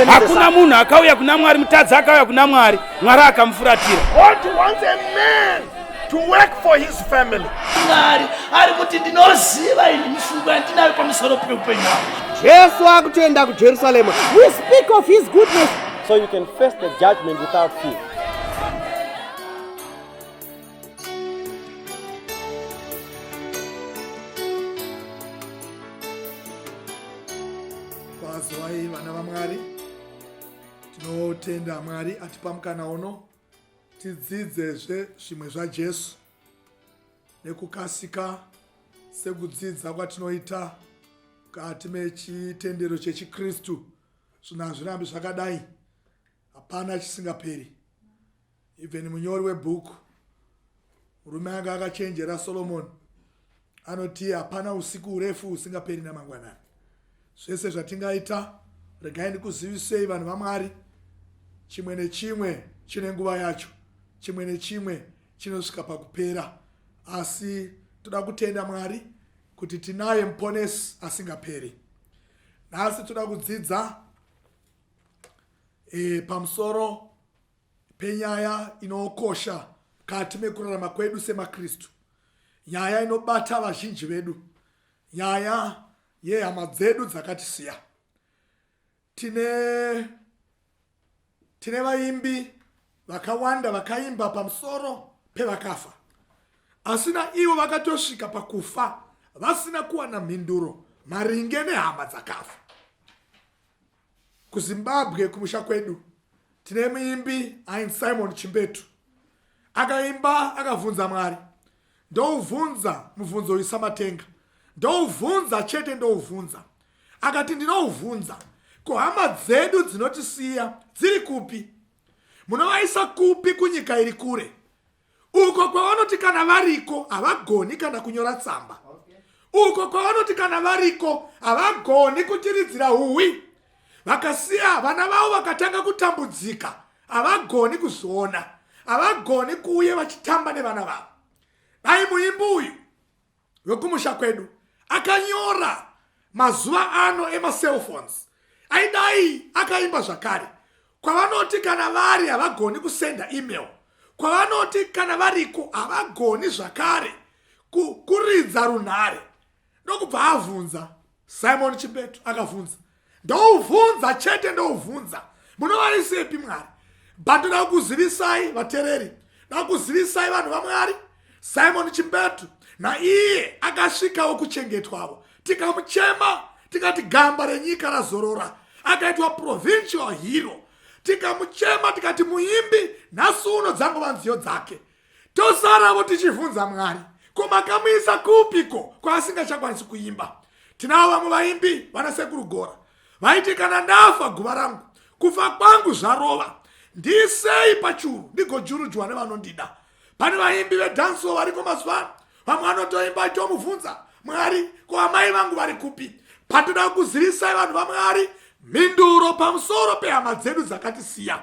Hakuna munhu akauya kuna Mwari, mutadzi akauya kuna Mwari, Mwari akamufuratira. To work for his family. Mwari ari kuti ndinoziva ini mifungo yandinayo pamusoro peupenyu hwangu. Jesu akutoenda kuJerusarema. We speak of his goodness. So you can face the judgment without fear. Kwazwai vana vaMwari, tinotenda Mwari atipa mukana uno tidzidzezve zvimwe zvaJesu nekukasika sekudzidza kwatinoita mukati mechitendero chechiKristu. Zvino hazvirambi zvakadai, hapana chisingaperi even munyori webhuku murume anga akachenjera solomoni anoti hapana usiku urefu husingaperi namangwanani zvese zvatingaita regai ndikuzivisei vanhu vamwari chimwe nechimwe chine nguva yacho chimwe nechimwe chinosvika pakupera asi toda kutenda mwari kuti tinaye muponesi asingaperi nhasi toda kudzidza e, pamusoro penyaya inokosha mukati mekurarama kwedu semakristu nyaya inobata vazhinji vedu nyaya yehama dzedu dzakatisiya tine tine vaimbi vakawanda vakaimba pamusoro pevakafa asi na ivo vakatosvika pakufa vasina kuwana mhinduro maringe nehama dzakafa KuZimbabwe kumusha kwedu tine muimbi ainzi Simon Chimbetu akaimba akavhunza Mwari ndouvhunza mubvunzo uyu samatenga ndouvhunza chete ndouvhunza akati ndinouvhunza ko hama dzedu dzinotisiya dziri kupi munovaisa kupi kunyika iri kure uko kwavanoti kana variko havagoni kana kunyora tsamba uko kwavanoti kana variko havagoni kuchiridzira huwi vakasiya vana vavo vakatanga kutambudzika havagoni kuzviona havagoni kuuye vachitamba nevana vavo dai muimbi uyu wekumusha kwedu akanyora mazuva ano emacelphones aidai akaimba zvakare kwavanoti kana vari havagoni kusenda email kwavanoti kana variko havagoni zvakare kuridza runhare ndokubva avhunza simon chibetu akavhunza ndouvhunza chete ndouvhunza munovaisepi mwari but ndoda kukuzivisai vatereri ndoda kukuzivisai vanhu vamwari simon chimbetu naiye akasvikawo kuchengetwavo tikamuchema tikati gamba renyika razorora akaitwa provincial hero tikamuchema tikati muimbi nhasi uno dzangova nziyo dzake tosaravo tichivhunza mwari ko makamuisa kupi ko kwaasingachakwanisi kuimba tinavo vamwe vaimbi vana sekuru gora vaiti kana ndafa guva rangu kufa kwangu zvarova ndisei pachuru ndigojurujwa nevanondida pane vaimbi vedanso variko mazuva ano vamwe anotoimba tomuvhunza mwari ko amai vangu vari kupi patoda kuzivisai vanhu vamwari mhinduro pamusoro pehama dzedu dzakatisiya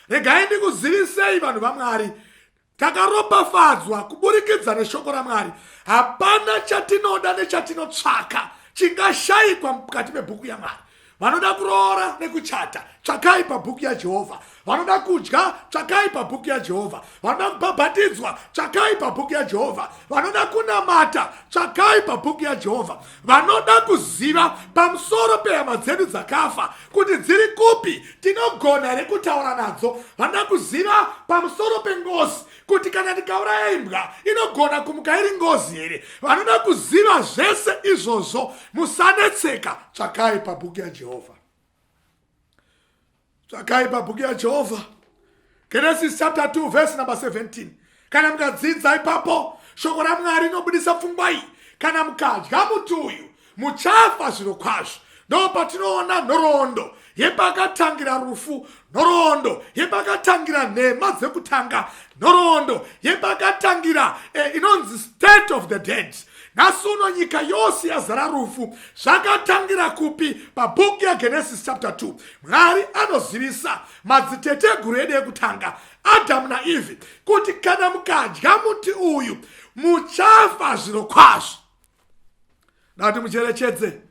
regai ndikuzivisei vanhu vamwari takaropafadzwa kuburikidza neshoko ramwari hapana chatinoda nechatinotsvaka chingashayikwa mukati mebhuku yamwari vanoda kuroora nekuchata tsvakai pabhuku yajehovha vanoda kudya tsvakai pabhuku yajehovha vanoda kubhabhatidzwa tsvakai pabhuku yajehovha vanoda kunamata tsvakai pabhuku yajehovha vanoda kuziva pamusoro pehama dzedu dzakafa kuti dziri kupi tinogona here kutaura nadzo vanoda kuziva pamusoro pengozi kuti kana tikauraya imbwa inogona kumuka iri ngozi here vanoda kuziva zvese izvozvo musanetseka tsvakai pabhuku yajehovha tsvakai pabhuku yajehovha genesis chapter 2 verse number 17 kana mukadzidza ipapo shoko ramwari inobudisa pfungwa iyi kana mukadya muti uyu muchafa zviro kwazvo ndo patinoona nhoroondo yepakatangira rufu nhoroondo yepakatangira nhema dzekutanga nhoroondo yepakatangira eh, inonzi state of the dead nhasi uno nyika yose yazara rufu zvakatangira kupi pabhuku yagenesis chapter 2 mwari anozivisa madziteteguru edu ekutanga adhamu naivhi kuti kana mukadya muti uyu muchafa zviro kwazvo dati mucherechedze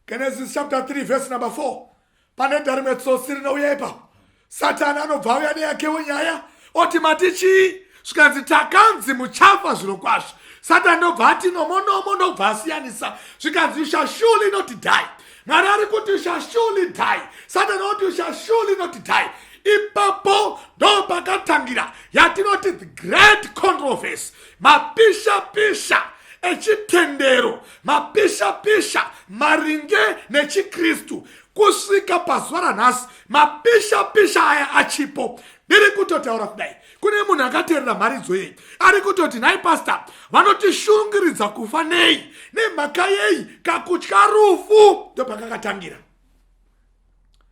genesis chapter 3 vhesi number 4 Panoenda rimwe tsotsi rinouya ipapo, Satani anobva auya neyakewo nyaya oti mati chii, zvikanzi takanzi muchafa zviro kwazvo. Satani ndobva ati nomonomo ndobva asiyanisa zvikanzi you shall surely not die. Mwari ari kuti you shall surely die. Satani oti you shall surely not die. ipapo ndo pakatangira yatinoti the great controversy mapisha pisha echitendero mapishapisha maringe nechikristu kusvika pazuva ranhasi mapishapisha aya achipo ndiri kutotaura kudai kune munhu akateerera mharidzo yei ari kutoti nhai pasta vanotishungiridza kufa nei nemhaka yei kakutya rufu ndopakakatangira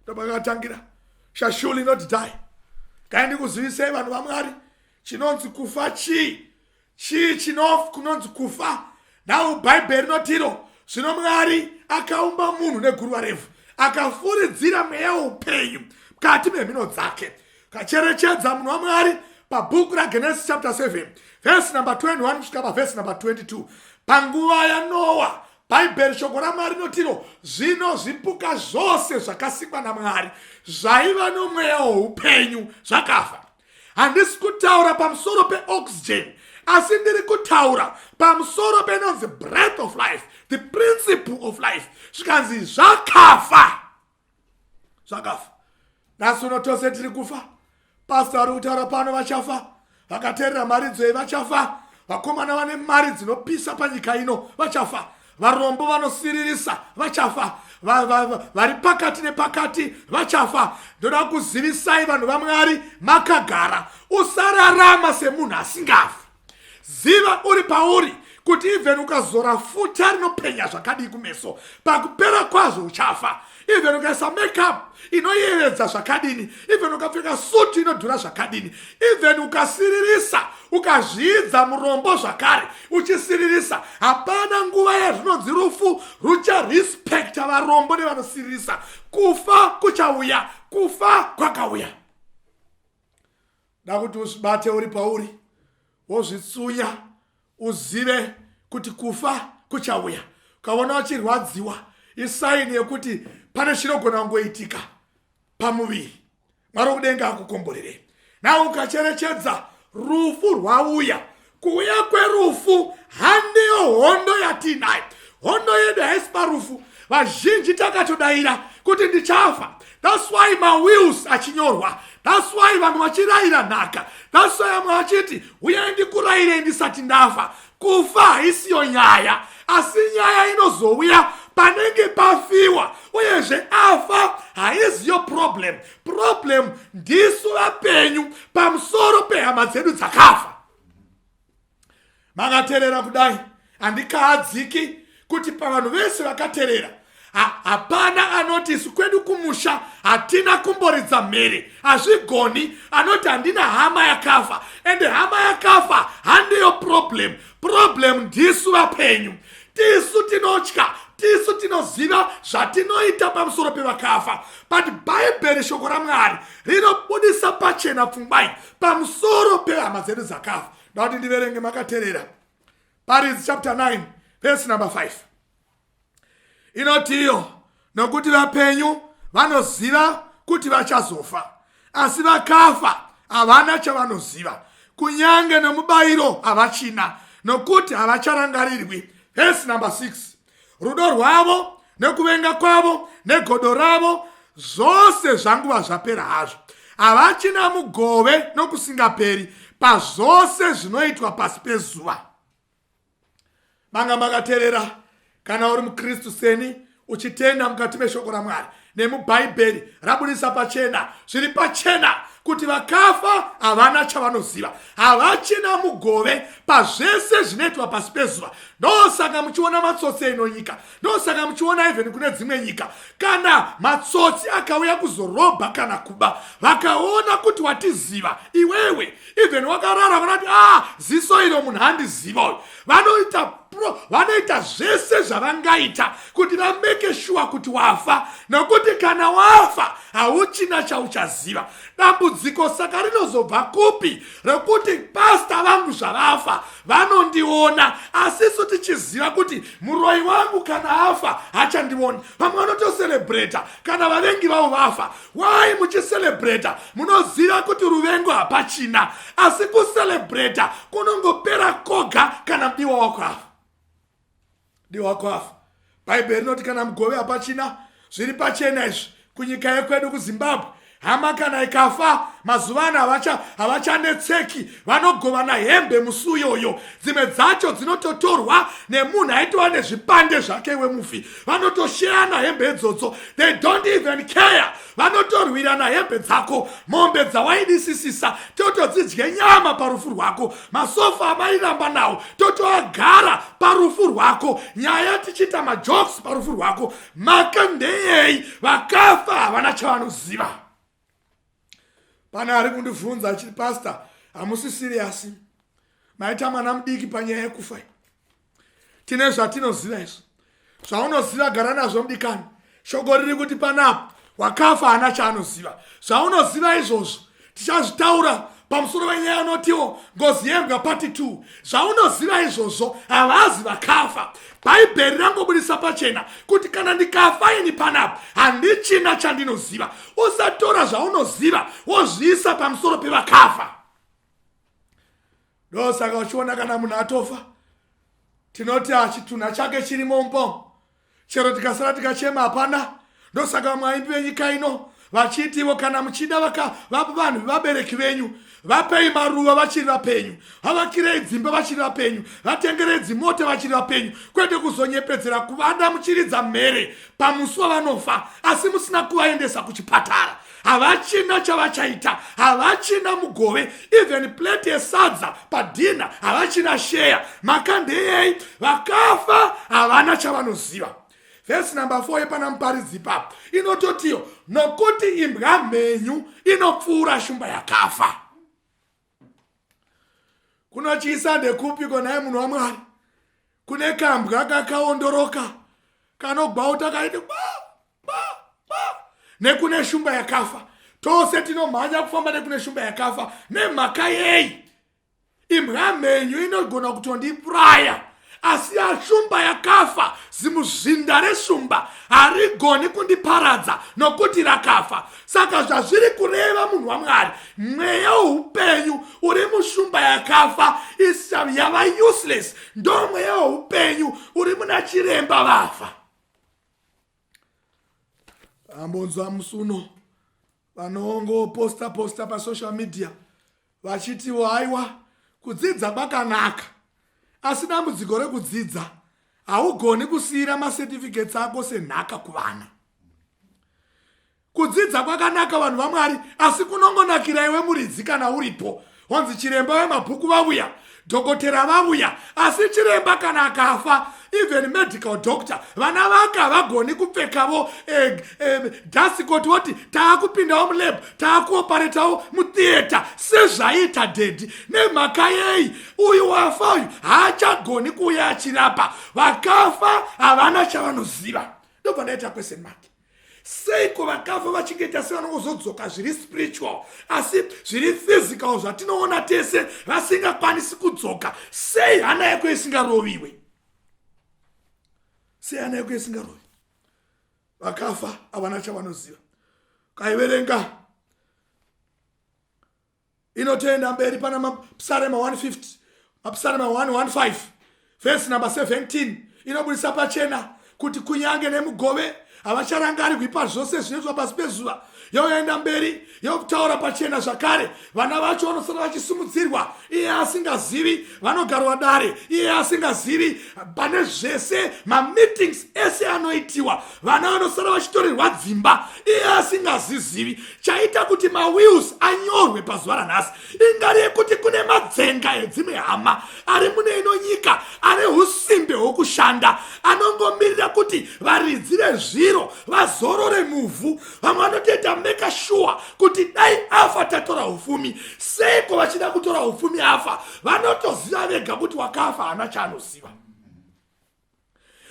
ndopakakatangira shashuli not die kaindi kuzivisei vanhu vamwari chinonzi kufa chii Chii chinof kunonzi kufa? Nhau Bhaibheri rinotiro zvino Mwari akaumba munhu neguruva revhu akafuridzira mweya weupenyu mukati memhino dzake kacherechedza munhu wamwari pabhuku ragenesis chapter 7 vhesi number 21 kusvika pavhesi number 22 panguva yanoa bhaibheri shoko ramwari rinotiro zvino zvipuka zvose zvakasikwa namwari zvaiva nomweya woupenyu zvakafa handisi kutaura pamusoro peoxygen asi ndiri kutaura pamusoro penonzi breath of life the principle of life zvikanzi zvakafa zvakafa nhasi uno tose tiri kufa pasta vari kutaura pano vachafa vakateerera mharidzoi vachafa vakomana vane mari dzinopisa panyika ino vachafa varombo vanosiririsa vachafa vari va, va, va, pakati nepakati vachafa ndoda kuzivisai vanhu vamwari makagara usararama semunhu asingafi ziva uri pauri kuti even ukazora futa rinopenya zvakadii kumeso pakupera kwazvo uchafa even ukaisa makeup inoyevedza zvakadini even ukapfeka suti inodhura zvakadini even ukasiririsa ukazviidza murombo zvakare uchisiririsa hapana nguva yazvinonzi rufu rucharespekta varombo nevanosiririsa kufa kuchauya kufa kwakauya da kuti uzvibate uri pauri wozvitsunya uzive kuti kufa kuchauya ukaona wachirwadziwa isaini yekuti pane chinogona kungoitika pamuviri mwari wokudenga akukomborerei nau ukacherechedza rufu rwauya kuuya kwerufu handiyo hondo yatiinayo hondo yedu haisi parufu vazhinji takatodaira kuti ndichafa That's why mawills achinyorwa. That's why vanhu vachirayira nhaka. That's why amwe achiti huyai ndikurayirei ndisati ndafa. Kufa haisiyo nyaya, asi nyaya inozouya panenge pafiwa uyezve afa haiziyo problem. Problem ndisu vapenyu pamusoro pehama dzedu dzakafa. makaterera kudai handikaadziki kuti pavanhu vese vakaterera hapana ha, anoti isu kwedu kumusha hatina kumboridza mhere hazvigoni anoti handina hama yakafa ende hama yakafa handiyo problem problem ndisu vapenyu tisu tinotya tisu tinoziva zvatinoita pamusoro pevakafa but bhaibheri shoko ramwari rinobudisa pachena pfungwai pamusoro pehama dzedu dzakafa ndati ndiverenge makaterera paridzi chapter 9 vesi number 5 inotiyo nokuti vapenyu vanoziva kuti vachazofa asi vakafa havana chavanoziva kunyange nomubayiro havachina nokuti havacharangarirwi vhesi number 6 rudo rwavo nekuvenga kwavo negodo ravo zvose zvanguva zvapera hazvo havachina mugove nokusingaperi pazvose zvinoitwa pasi pezuva manga makaterera kana uri mukristu seni uchitenda mukati meshoko ramwari nemubhaibheri rabudisa pachena zviri pachena kuti vakafa havana chavanoziva havachina mugove pazvese zvinoitwa pasi pezuva ndosaka muchiona matsotsi eino nyika ndosaka muchiona even kune dzimwe nyika kana matsotsi akauya kuzorobha kana kuba vakaona kuti watiziva iwewe even wakarara vanati ah ziso iro munhu andiziva uyu vanoita pro vanoita zvese zvavangaita kuti vameke shuwa kuti wafa nokuti kana wafa hauchina chauchaziva dambudziko saka rinozobva kupi rokuti pasta vangu zvavafa vanondiona asisu tichiziva kuti muroyi wangu kana afa hachandioni vamwe vanotoserebreta kana vavengi vavo vafa why muchiselebrata munoziva kuti ruvengo hapachina asi kuselebrata kunongopera koga kana mudiwa wako afa diwa wako afa bhaibheri rinoti kana mugove hapachina zviri pachena izvi kunyika yekwedu kuzimbabwe hama kana ikafa mazuva ano havachanetseki vanogovana hembe musi uyoyo dzimwe dzacho dzinototorwa nemunhu aitova nezvipande zvake wemufi vanotosheyana hembe idzodzo they don't even care vanotorwirana hembe dzako mombe dzawaidisisisa totodzidye nyama parufu rwako masofa amairamba nawo totoagara parufu rwako nyaya tichiita majoks parufu rwako maka ndeyei vakafa havana chavanoziva pane ari kundivhunza achiti pastor hamusi siriyasi maita mwana mudiki panyaya yekufa tine zvatinoziva izvo zvaunoziva gara nazvo mudikani shoko riri kuti panapa wakafa haana chaanoziva zvaunoziva izvozvo tichazvitaura pamusoro venyaya anotiwo ngozi yembwa pati 2 zvaunoziva izvozvo havazi vakafa bhaibheri rangobudisa pachena kuti kana ndikafa ini panapa handichina chandinoziva usatora zvaunoziva wozviisa pamusoro pevakafa ndosaka uchiona kana munhu atofa tinoti achitunha chake chirimo mbo chero tikasara tikachema hapana ndosaka vamwe vaimbi venyika ino vachiti ivo kana muchida vaka vanhu vevabereki venyu vapei maruva vachiri vapenyu havakirei dzimba vachiri vapenyu vatengerei dzimota vachiri vapenyu kwete kuzonyepedzera kuvada muchiridza mhere pamusi wavanofa asi musina kuvaendesa kuchipatara havachina chavachaita havachina mugove even plate yesadza padhina havachina sheya maka ndeyei vakafa havana chavanoziva vhesi number 4 yepana muparidzi ipapo inototiyo nokuti imbwa mhenyu inopfuura shumba yakafa kunochiisa ndekupi konaye munhu wamwari kune kambwa kakaondoroka kanogwauta kaiti nekune shumba yakafa tose tinomhanya kufamba nekune shumba yakafa nemhaka yei imbwa mhenyu inogona kutondipuraya asi yashumba yakafa zimuzinda reshumba harigoni kundiparadza nokuti rakafa saka zvazviri kureva munhu wamwari mweya woupenyu uri mushumba yakafa yava useless ndo mweya woupenyu uri muna chiremba vafa ambonzwa musuno vanongoposta posta pasocial media vachitiwo aiwa kudzidza kwakanaka asi dambudziko rekudzidza haugoni kusiyira macertificates ako senhaka kuvana kudzidza kwakanaka vanhu vamwari asi kunongonakira iwe muridzi kana uripo wanzi chiremba vemabhuku vavuya dhokotera vavuya asi chiremba kana akafa even medical doctor vana vake havagoni kupfekavo eh, eh, dasikoti voti taakupindawo mulab taakuoparetawo mutheatre sezvaiita dedi nemhaka yei uyu wafa uyu haachagoni kuuya achirapa vakafa havana chavanoziva ndobva ndaita question make seiko vakafa vachingeta se vanongozodzoka zviri spiritual asi zviri physical zvatinoona tese vasingakwanisi kudzoka sei hana yako isingaroviwe sei hana yako isingarovi vakafa havana chavanoziva kaiverenga inotoenda mberi pana mapsarema 150 mapsarema 115 vhesi number 17 inobudisa pachena kuti kunyange nemugove havacharangarigwi pazvose zvinoitwa pasi pezuva yoenda mberi yokutaura pachena zvakare vana vacho vanosara vachisumudzirwa iye asingazivi vanogarwa dare iye asingazivi pane zvese mameetings ese anoitiwa vana vanosara vachitorerwa dzimba iye asingazizivi chaita kuti mawills anyorwe pazuva ranhasi ingari yekuti kune madzenga edzimwe hama ari mune ino nyika ane usimbe hwokushanda anongomirira kuti varidzi vezviro vazorore muvhu vamwe vanotoita meka shuwa kuti dai afa tatora upfumi seiko vachida kutora upfumi afa vanotoziva vega kuti wakafa haana chaanoziva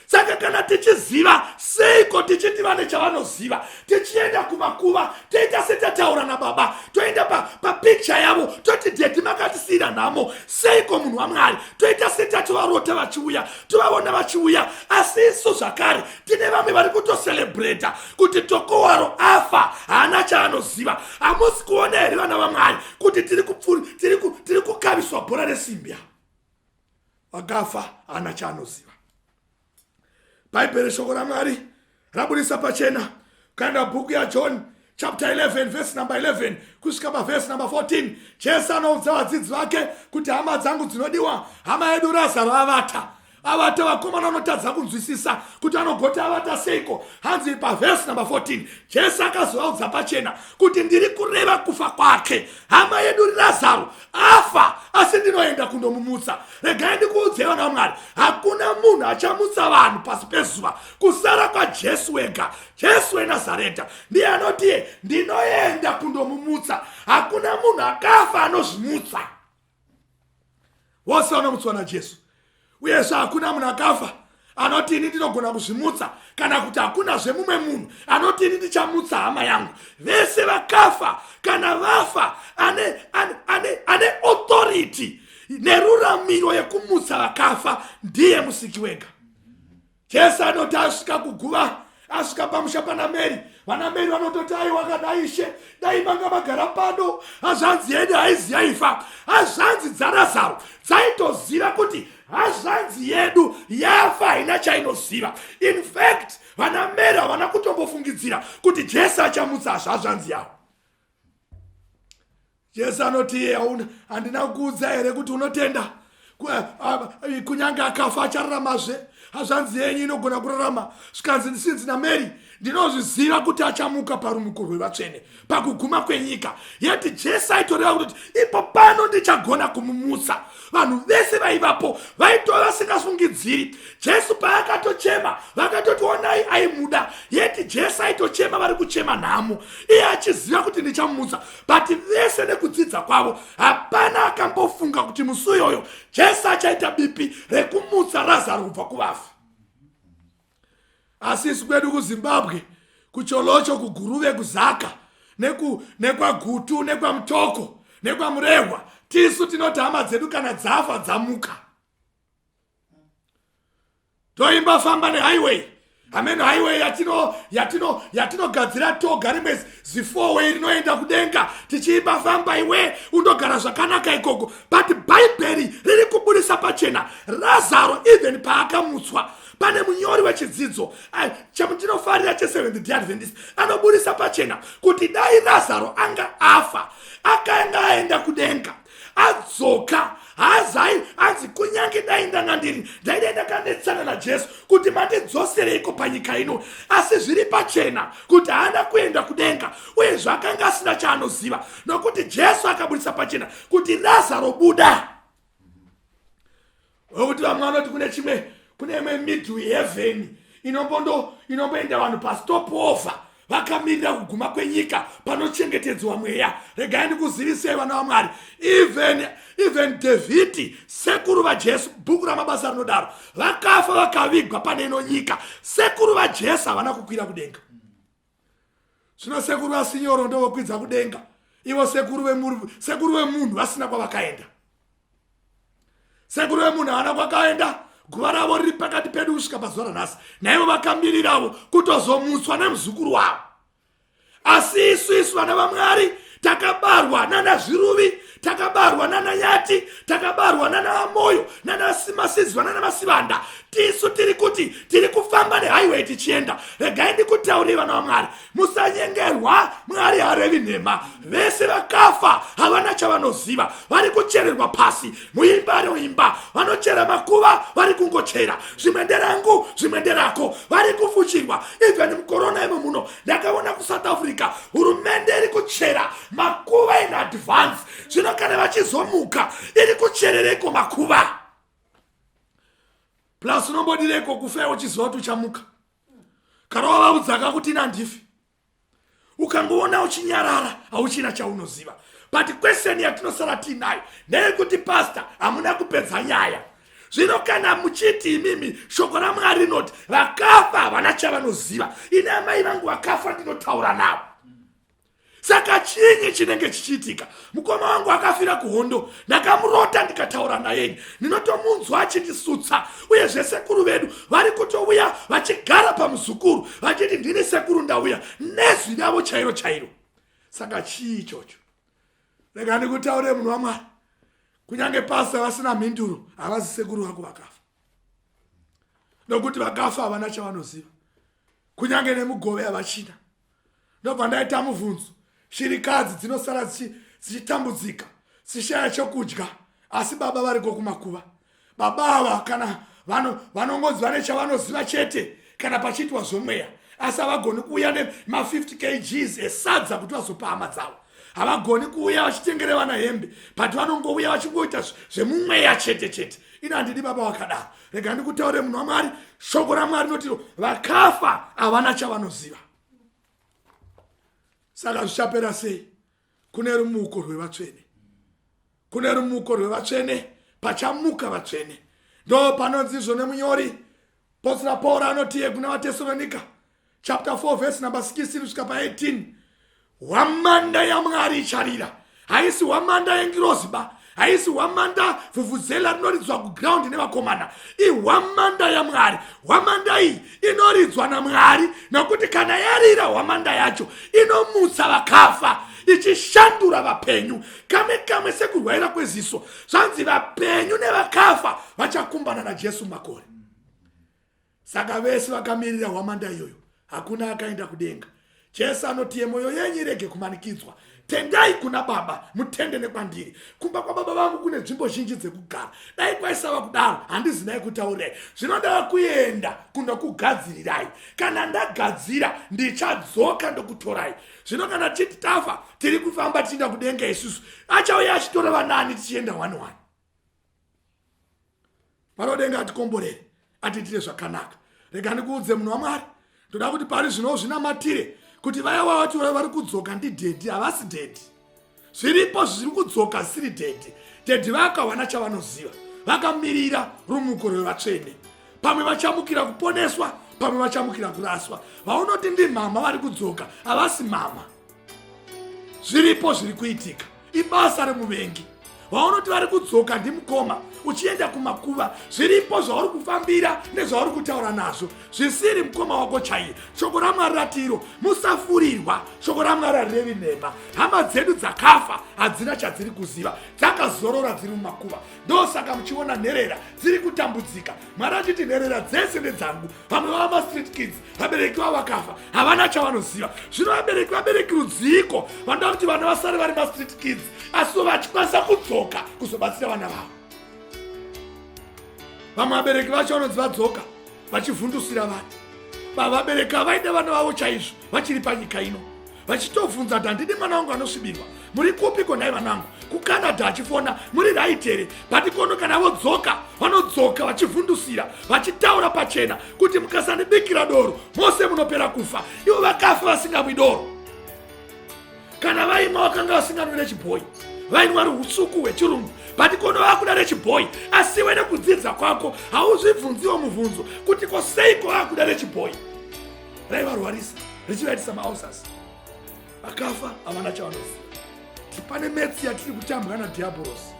saka kana tichiziva seiko tichiti vane chavanoziva tichienda kumakuva toita setataura nababa toenda papikicha pa yavo toti dedi makatisiyira nhamo seiko munhu wamwari toita setatovarota vachiuya tovaona vachiuya asi isu zvakare tine vamwe vari kutoselebreta kuti tokowaro afa haana chaanoziva hamusi kuona here vana vamwari kuti tiri kukaviswa bhora resimbi aa vakafa haana chaanoziva bhaibheri shoko ramwari rabudisa pachena ukaenda bhuku yajohn chapter 11 vhesi number 11 kusvika pavhesi number 14 jesu anoudza vadzidzi vake kuti hama dzangu dzinodiwa hama yedu razaro avata avata vakomana vanotadza kunzwisisa kuti anogoti avata seiko hanzi pavhesi number 14 jesu akazovaudza pachena kuti ndiri kureva kufa kwake hama yedu razaro afa asi ndinoenda kundomumutsa regai ndikuudzei vana vamwari hakuna munhu achamutsa vanhu pasi pezuva kusara kwajesu wega jesu wenazareta ndiye anotiye ndinoenda kundomumutsa hakuna munhu akafa anozvimutsa wose vanomutswa najesu uyezve hakuna munhu akafa anoti ini ndinogona kuzvimutsa kana kuti hakunazve mumwe munhu anoti ini ndichamutsa hama yangu vese vakafa kana vafa ane, ane, ane, ane authority neruramiro yekumutsa vakafa ndiye musiki wega jesu anoti asvika kuguva asvika pamusha pana mary vana mary vanototi aiwa kana ishe dai manga magara pano hazvanzi yedu haizi yaifa hazvanzi dzarazaro dzaitoziva kuti hazvanzi yedu yafa haina chainoziva infact vana mary havana kutombofungidzira kuti jesu achamutsa hazvazvanzi yavo jesu anoti iye hauna handina kukuudza here kuti unotenda kunyange akafa achararamazve hazvanzi yenyu inogona kurarama zvikanzi ndisinzi namary ndinozviziva kuti achamuka parumuko rwevatsvene pakuguma kwenyika yeti jesu aitoreva kuti ipo pano ndichagona kumumutsa vanhu vese vaivapo vaitova vasingafungidziri jesu paakatochema vakatoti onai aimuda yeti jesu aitochema vari kuchema nhamo iye achiziva kuti ndichamutsa but vese nekudzidza kwavo hapana akambofunga kuti musi uyoyo jesu achaita bipi rekumutsa razaro kubva kuvafi asi isu kwedu kuzimbabwe kucholocho kuguruve kuzaka nekwagutu nekwamutoko nekwamurehwa tisu tinoti hama dzedu kana dzafa dzamuka toimba famba nehighway amene highway yatino yatino yatinogadzira toga rimwe zifowe rinoenda kudenga tichiimba famba iwe undogara zvakanaka ikoko but bhaibheri riri kuburisa pachena razaro even paakamutswa pane munyori wechidzidzo chamutinofarira cheseventh day adventist anoburisa pachena kuti dai razaro anga afa akaenda aenda kudenga adzoka hazai anzi kunyange dai ndanga ndiri ndaidai ndakanetsana najesu kuti mandidzosereiko panyika ino asi zviri pachena kuti haana kuenda kudenga uye zvaakanga asina chaanoziva nokuti jesu akaburitsa pachena kuti razaro buda wekuti vamwe vanoti kune chimwe kune imwe middle heaven inombondo inomboenda vanhu pastop over vakamirira kuguma kwenyika panochengetedzwa mweya regai ndikuzivisei vana vamwari even even dhavhidhi sekuru vajesu bhuku ramabasa rinodaro vakafa vakavigwa pane ino nyika sekuru vajesu havana kukwira kudenga zvino sekuru vasinyoro ndovokwidza kudenga ivo sekuru vemuru sekuru vemunhu vasina kwavakaenda sekuru vemunhu havana kwakaenda guva ravo riri pakati pedu kusvika pazuva ranhasi naivo vakamiriravo kutozomutswa nemuzukuru wavo asi isu isu vana vamwari takabarwa nana zviruvi takabarwa nana nyati takabarwa nana vamoyo nana simasizwa nana masivanda tisu tiri kuti tiri kufamba nehighway tichienda regai ndikutaurire vana vamwari musanyengerwa mwari harevi nhema vese vakafa havana chavanoziva vari kuchererwa pasi muimba roimba vanochera makuva vari kungochera zvimwe nderangu zvimwe nderako vari kufuchirwa even mukorona imo muno ndakaona kusouth africa hurumende iri kuchera makuva in advance zvino kana vachizomuka iri kucherereko makuva plus unombodireko kufa uchiziva kuti uchamuka kana wavaudzaka kuti inandifi ukangoona uchinyarara hauchina chaunoziva but kweseni yatinosara tiinayo ndeyekuti pasta hamuna kupedza nyaya zvino kana muchiti imimi shoko ramwari rinoti vakafa havana chavanoziva ini amai vangu vakafa ndinotaura navo saka chinyi chinenge chichiitika mukoma wangu akafira kuhondo ndakamurota ndikataura nayenyi ndinotomunzwa achindisutsa uye zvesekuru vedu vari kutouya vachigara pamuzukuru vachiti ndini sekuru ndauya nezwi ravo chairo chairo saka chii ichocho rega ndikutaurire munhu wamwari kunyange pasi avasina mhinduro havazi sekuru vako vakafa nokuti vakafa havana chavanoziva kunyange nemugove havachina ndobva ndaita mubvunzo shirikadzi dzinosara dzichitambudzika dzichishaya chokudya asi baba variko kumakuva baba ava kana vanongonzi vane chavanoziva chete kana pachiitwa zvomweya asi havagoni kuuya nema50 kgs esadza kuti vazopa hama dzavo havagoni kuuya vachitengere vana hembe but vanongouya vachingoita zvemumweya chete chete ino handidi baba vakadaro rega ndikutaure munhu wamwari shoko ramwari notiro vakafa havana chavanoziva saka zvichapera sei kune rumuko rwevatsvene kune rumuko rwevatsvene pachamuka vatsvene ndo panonzi izvo nemunyori posira pauro anotiye kuna vatesoronika chapter 4 vhesi number 16 kusvika pa18 hwamanda yamwari icharira haisi hwamanda yengirozi ba haisi hwamanda vhuvhuzela rinoridzwa kuground nevakomana ihwamanda yamwari hwamanda iyi inoridzwa namwari nokuti kana yarira hwamanda yacho inomutsa vakafa ichishandura vapenyu kamwe kamwe sekurwaira kweziso zvanzi vapenyu nevakafa vachakumbana najesu makore Saka vese vakamirira hwamanda iyoyo hakuna akaenda kudenga. Jesu anoti yemoyo yenyu irege kumanikidzwa tendai kuna baba mutende nekwandiri kumba kwababa vangu kune nzvimbo zhinji dzekugara dai kwaisava kudaro handizi nai kutaurirai zvinodava kuenda kunokugadzirirai kana ndagadzira ndichadzoka ndokutorai zvino kana tichiti tafa tiri kufamba tichienda kudenga isusu achauya achitora vanaani tichienda one one mwana wadenga atikomborere atiitire zvakanaka rega ndikuudze munhu wamwari ndoda kuti pari zvino zvinamatire kuti vaya vavati vari kudzoka ndidhedhi havasi dhedhi zviripo zviri kudzoka zvisiri dhedhi dhedhi vakawana chavanoziva vakamirira rumuko rwevatsvene pamwe vachamukira kuponeswa pamwe vachamukira kuraswa vaunoti ndimama vari kudzoka havasi mama zviripo zviri kuitika ibasa remuvengi vaunoti vari kudzoka ndimukoma uchienda kumakuva zviripo zvauri kufambira nezvauri kutaura nazvo zvisiri mukoma wako chaiye shoko ramwari ratiro musafurirwa shoko ramwari harirevi nhema hama dzedu dzakafa hadzina chadziri kuziva dzakazorora dziri mumakuva ndosaka muchiona nherera dziri kutambudzika mwari achiti nherera dzese ndedzangu vamwe vava mastreet kids vabereki vavo vakafa havana chavanoziva zvino vabereki vabereki rudziiko vanoda kuti vana vasare vari mastreet kids asiwo vachikwanisa kudzoka kuzobatsira vana vavo vamwe vabereki vacho vanonzi vadzoka vachivhundusira vana vavabereki havaide vana vavo chaizvo vachiri panyika ino vachitobvunza kuti handidi mwana wangu anosvibirwa muri kupi ko nhai vana vangu kucanada achifona muri right here but kono kana vodzoka vanodzoka vachivhundusira vachitaura pachena kuti mukasandibikira doro mose munopera kufa ivo vakafa vasingamwi doro kana vaimwa vakanga vasinganwire chibhoyi vainwa ruusuku hwechirungu but kono vakuda rechibhoyi asi wene kudzidza kwako hauzvibvunziwo mubvunzo kuti ko seiko vakuda rechibhoyi raivarwarisa richivaitisa mausas vakafa havana chavanoziva kuti pane metsi yatiri kutambwa nadhiabhorosi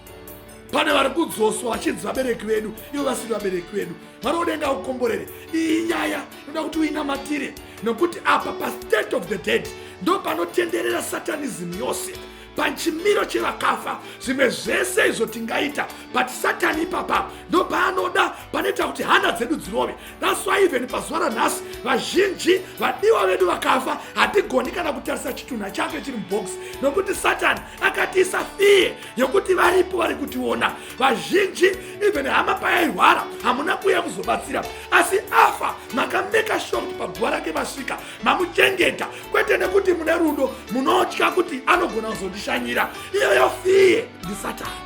pane vari kudzoswa vachinzi vabereki vedu ivo vasiri vabereki vedu vari kudenga kukomborere iyi nyaya inoda kuti uinamatire nokuti apa pastate of the dead ndo panotenderera satanism yose pachimiro chevakafa zvimwe zvese izvo tingaita but satani ipapa ndopaanoda panoita kuti hana dzedu dzirove thats why even pazuva ranhasi vazhinji vadiwa vedu vakafa hatigoni kana kutarisa chitunha chake chiri mubox nokuti satani akatiisa fiye yekuti varipo vari kutiona vazhinji even hama payairwara hamuna kuuya kuzobatsira asi afa makameka sure kuti paguva rake vasvika mamuchengeta kwete nekuti mune rudo munotya kuti anogona kuzondishanyira iyoyo fiye ndisatani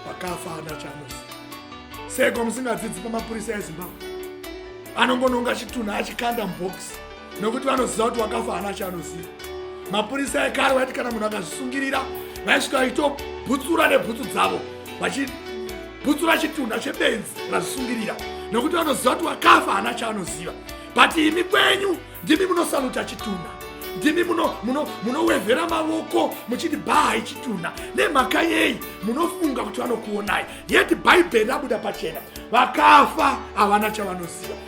pakafa ana chamusi seko musingadzidzi pamapurisa ezimbabwe anongononga chitunha achikanda mubhokisi nokuti vanoziva kuti wakafa hana chaanoziva mapurisa ekare vaiti kana munhu akazvisungirira vaisvika vachitobhutsura nebhutsu dzavo vachi bhutsu rachitunha chebenzi razvisungirira nokuti vanoziva kuti wakafa hana chaanoziva but imi kwenyu ndimi munosaluta chitunha ndimi munowevhera muno, muno mavoko muchiti bhahai chitunha nemhaka yei munofunga kuti vanokuonai yeti bhaibheri rabuda pachena vakafa havana chavanoziva